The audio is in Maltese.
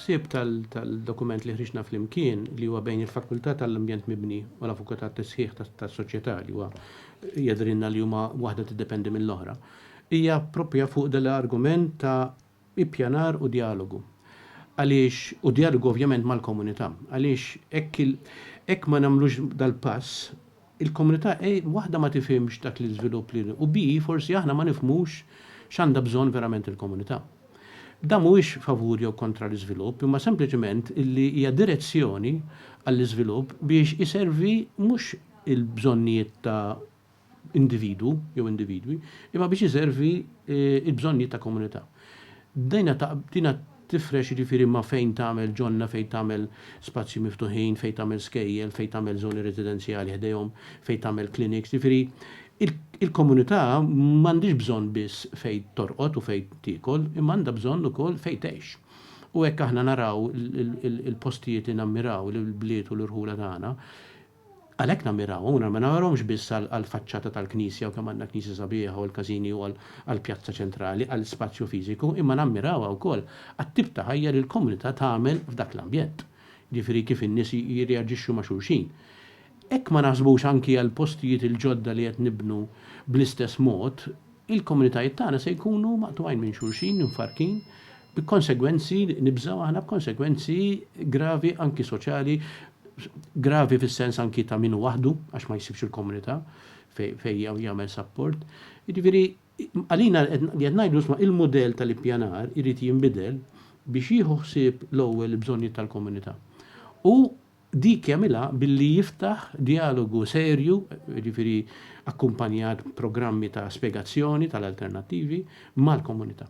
Il-ħsieb tal-dokument li ħriġna flimkien li huwa bejn il-Fakultà tal-Ambjent Mibni u l-Avukat tat-Tisħiħ tas-Soċjetà li huwa jadrinna li huma waħda tiddependi mill-oħra hija proprja fuq dal-argument ta' ippjanar u djalogu. Għaliex u djalogu ovvjament mal-komunità. Għaliex hekk ma nagħmlux dal-pass il-komunità A waħda ma tifhimx dak l-iżvilupp li u B forsi aħna ma nifhmux x'għandha bżonn verament il-komunità. Dan mhuwiex favur jew kontra l-iżvilupp imma sempliċement li hija direzzjoni għall-iżvilupp biex iservi mhux il-bżonnijiet ta' individwu jew individwi imma biex iservi l-bżonnijiet ta' komunità. Dina Tifrex jiġifieri ma' fejn tagħmel ġonna, fejn tagħmel spazji miftuħin, fejn tagħmel skejjel, fejn tagħmel żoni residenzjali ħdejhom, fejn tagħmel clinics, jiġifieri il-komunità m'għandhiex bżonn biss fejn torqod u fejn tiekol imma għandha bżonn ukoll fejn tgħix. U hekk aħna naraw il-postijiet li nammiraw, il-bliet u l-irħula tagħna. Għalhekk nammirawhom u ma nammirawhomx biss għall-faċċata tal-knisja u kemm għandna knisja sabiħa u l-każini u għall-pjazza ċentrali, għall-ispazju fiżiku, imma nammirawha wkoll għat-tip ta' ħajja li l-komunità tagħmel f'dak l-ambjent. Jiġifieri kif in-nies jirreaġixxu ma' xulxin. Hekk ma naħsbux anki għall-postijiet il-ġodda li qed nibnu bl-istess mod, il-komunitajiet tagħna se jkunu maqtugħin minn xulxin, imfarrkin, bi konsegwenzi, nibżgħu aħna b'konsegwenzi gravi anki soċjali, gravi fis-sens anki ta' min hu waħdu għax ma jsibx il-komunità fejn jagħmel sapport. Jiġifieri għalina li qed ngħidu isma' il-mudell tal-ippjanar irid jinbidel biex jieħu ħsieb l-ewwel il-bżonnijiet tal-komunità. U dik jagħmilha billi jiftaħ djalogu serju, jiġifieri akkumpanjat b'programmi ta' spjegazzjoni tal-alternattivi, mal-komunità.